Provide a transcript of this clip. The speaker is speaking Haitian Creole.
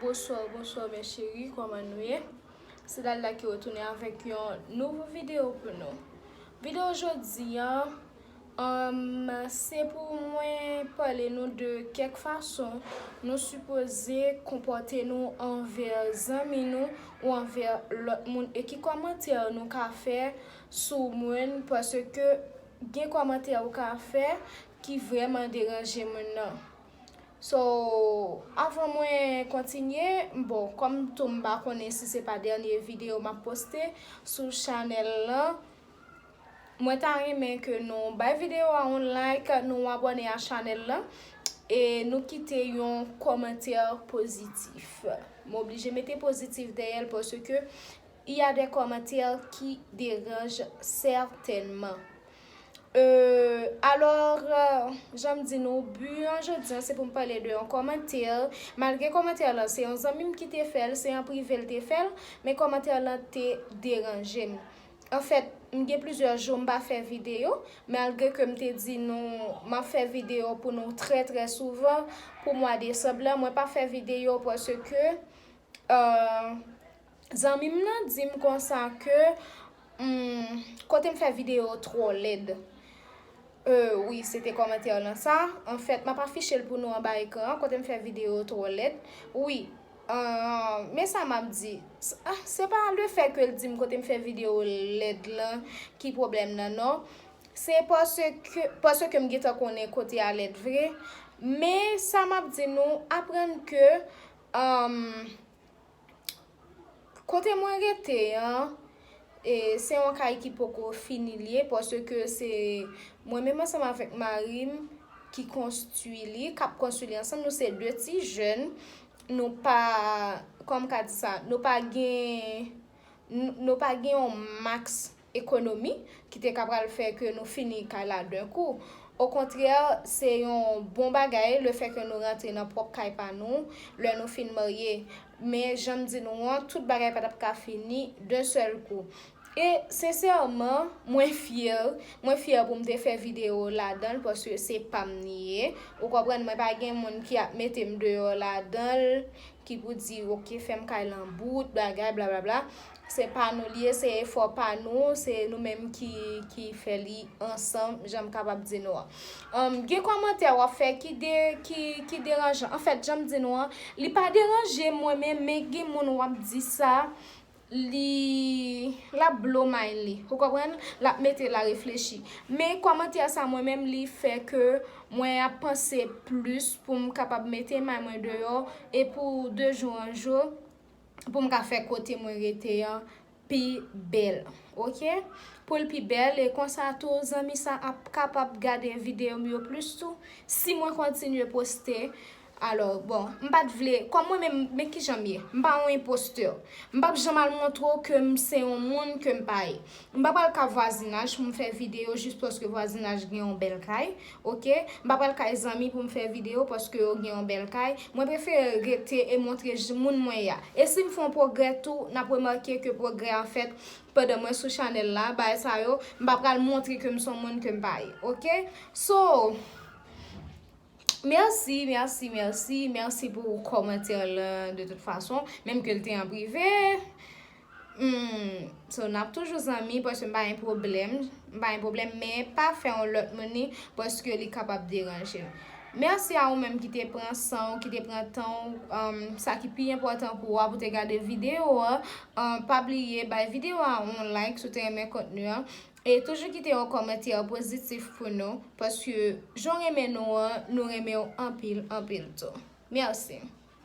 Bonsoir bonsoir mes cherie kòman nou ye se dalda ki retounen avèk yon nouvo video pou nou video jodi an Humm se pou mwen pale nou de kèk fason nou sipoze konpòte nou anvè zanmi nou ou anvè lòt moun e ki kòmantè nou ka fè sou moun paske gen kòmantè ou ka fè ki vrèman deranje moun nan so avan mwen kontinye bon kòm tou m pa konnen si se pa dènye videyo m ap poste sou chanèl lan Mwen ta renmen ke nou bay video a yon like, nou abone a chanel lan e nou kite yon komantè pozitif. M oblije mete pozitif dèyè l paske il y a des commentaires qui derangent certainement. Euh, alors, jan m di nou, but an jodi an se pou m pale de yon komantè, malgre komantè lan se yon zanmi m ki te fè l, se an prive l te fè l, men komantè lan te deranje m. Anfèt, m gen plizyè jou m pa fè videyo, malgre ke m te di nou m ap fè videyo pou nou trè trè souvan pou mwa desanm lan, mwen pa fè videyo paske zanmi m nan di m konsa ke kote m fè videyo twò lèd. Euh wi, se te kòmantè lan sa. Anfèt, m ap afiche l pou nou anba ekran an, kote m fè videyo twò lèd. Wi, Aah men sa map di ah se pa le fè ke l dim kote m fè video lèd lan ki problèm nan non se paske paske m gentan konnen kote a lèd vre men sa map di nou aprann ke ahh kote mwen rete an E se yon kay ki poko fini li ye paske se mwen menm ansanm avèk mari m ki konstwi li, k ap konstwi li ansanm. Nou se de ti jèn, nou pa, kòman m ka di sa, nou pa gen, nou pa gen yon maks ekonomi ki te ka pral fè ke nou fini kay la den kou. Okontrè, se yon bon bagay lefè ke nou rantre nan pwòp kay pa nou lè nou fin marye. Men, jan m di nou an, tout bagay pa t ap ka fini d'un seul coup. E, sensèman, mwen fyè, mwen fyè pou m te fè videyo ladan l paske se pa m li ye. Ou konprann, mwen pa gen moun ki ap mete m deyò ladan l, ki pou di, ok, fè m kay lan bout, bagay, blablabla. Se pa nou li ye, se efò pa nou, se nou menm ki fè li ansanm jan m kapab di nou an. Gen kòmantè w ap fè ki deranjan. Anfèt, jan m di nou an, li pa deranje mwen men men gen moun w ap di sa, l ap blow mind li. Ou konprann? L ap mete l a reflechi. Men kòmantè sa mwen menm li fè ke mwen ap panse plis pou m kapab mete may mwen deyò e pou de jou an jou pou m ka fè kote mwen rete an pi bèl ok pou l pi bèl e konsa tou zanmi sa ap kapab gade video m yo plis tou si mwen kontinye poste alò bon m pat vle kòm mwen menm men kijan m ye m pa yon enpostè m pap janm al montre w ke m se yon moun ke m pa ye m pa pral ka vwazinaj pou m fè video jis paske vwazinaj gen yon bèl kay Ok, m pa pral kay zanmi pou m fè video paske yo gen yon bèl kay, mwen prefere rete e montre j moun mwen ya. E si m fè yon pwogrè tou, n ap remake ke pwogrè an fèt pandan mwen sou chanèl la, bagay sa yo, m pa pral montre ke m s on moun ke m pa ye. Ok, so, mèsi, mèsi, mèsi, mèsi pou kòmantè lan de tout fason, menm ke l te an prive. Humm so nap toujou zanmi paske m pa gen pwoblèm m pa gen pwoblèm men pa fè yon lòt moun li paske li kapab deranje l mèsi a ou menm ki te pran san w ki te pran tan w sa ki pi enpòtan pou ou a pou te gade videyo a pa bliye bay videyo a yon like si w te renmen kontni an e toujou kite yon kòmantè pozitif pou nou paske jan w renmen nou an nou renmen w anpil anpil tou mèsi.